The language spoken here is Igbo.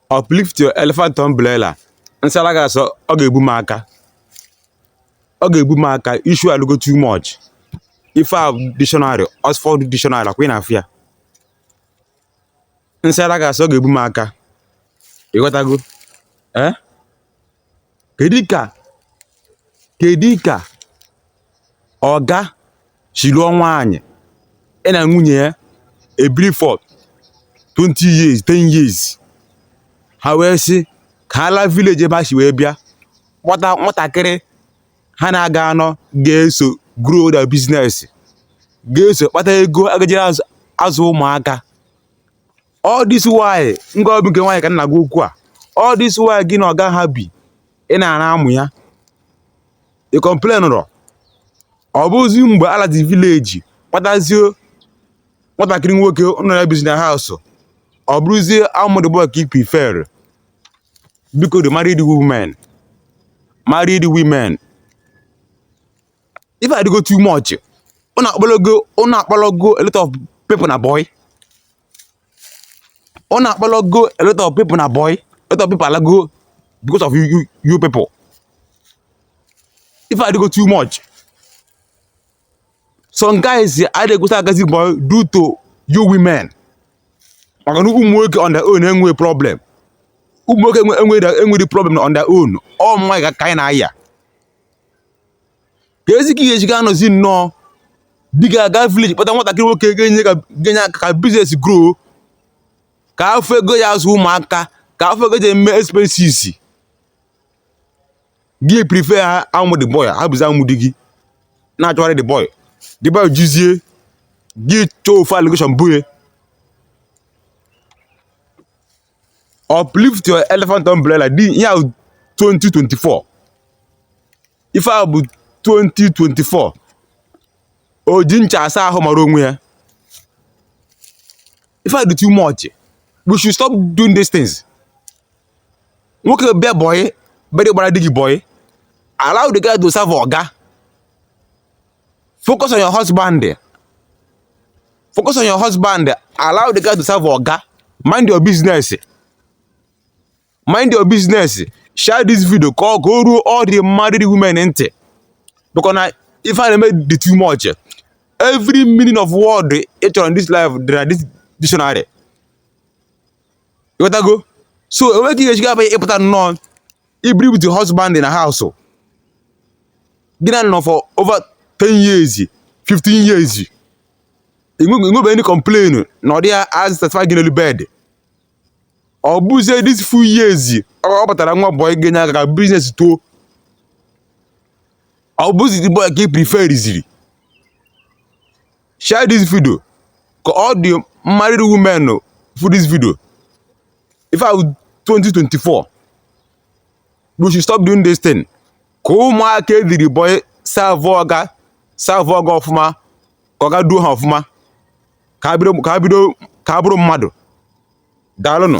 uplift your elephant umbrella nsala gị asọ ọ ga-egbu m aka ọ ga-egbu m aka issue alụgo too much ife a dictionary Oxford dictionary ọkwa ị na-afụ ya nsala gị asọ ọ ga-egbu m aka ịghọtago ee eh? kedu ka ọga si lụọ nwaanyị ya na nwunye ya ebiri for 20 years 10 years ha wee sị ka ha laa village ebe ha si wee bịa kpọta nwatakịrị ha na ya ga-anọ ga-eso grow their business ga-eso kpata ego a ga-ejiri azụ ụmụaka all this while ngwa ọ bụ nke nwaanyị ka m na-agwa okwu a all this while gị na ọga ha bi ị na-ara amụ ya ị complain rọ ọ bụzi mgbe a lazi village kpọtazie nwatakịrị nwoke ụnụ na ya bizi na house ọ bụrụzie amụ the boy ka ị prefer biko the married women married women ife a adịgo too much ụnụ akpọlago a lot of people na boy ọ na-akpọrọ go a lot of people na boy a lot of people alago because of you, you, you people if I go too much some guys I dey go start getting boy due to you women maka na ụmụ nwoke on their own enwe problem ụmụ nwoke enwe enwe the problem on their own ọ mma ka anyị na-aya keezi ka ị ya-eji ga-anọzi nnọọ di gị aga village kpọta nwatakịrị nwoke ga-enye ka ga-enye aka ka business grow ka a fụ ego ya azụ ụmụaka ka a fụ ego e ji eme expenses gị prefer amụ the boy hapụzi amụ di gị na-achọgharị the boy the boy jụzie gị chọọ ofu allegation bo ya uplift your elephant umbrella the year 2024 ife a bụ 2024 o ji ncha asa ahụ mara onwe ya ife a dị too much we should stop doing these things nwoke bịa boy bịa gbara di gị boy allow the guy to serve oga focus on your husband focus on your husband allow the guy to serve oga mind your business mind your business share this video ka ọ ka o ruo all the married women ntị because na ife a na-eme dị too much every meaning of word ị chọrọ in this life dị na this dictionary ịghọtago so enweghị ihe e ji ga-abụ gị ịpụta nnọọ i biri with your husband in a house gị na ya nọ for over 10 years 15 years i nwebe any complain na ọ dị ya a-satisfy gị n'elu bed ọ bụzie this few years ọ batara nwa boy ga-enye aka ka business too ọ bụzi the boy ka ị preferiziri share this video ka all the married women fụ this video ife a wụ 2024 we should stop doing this thing ka ụmụaka ediri boy serve ọga ọfụma ka ọga duo ha ọfụma ka ha bụrụ mmadụ daalụnụ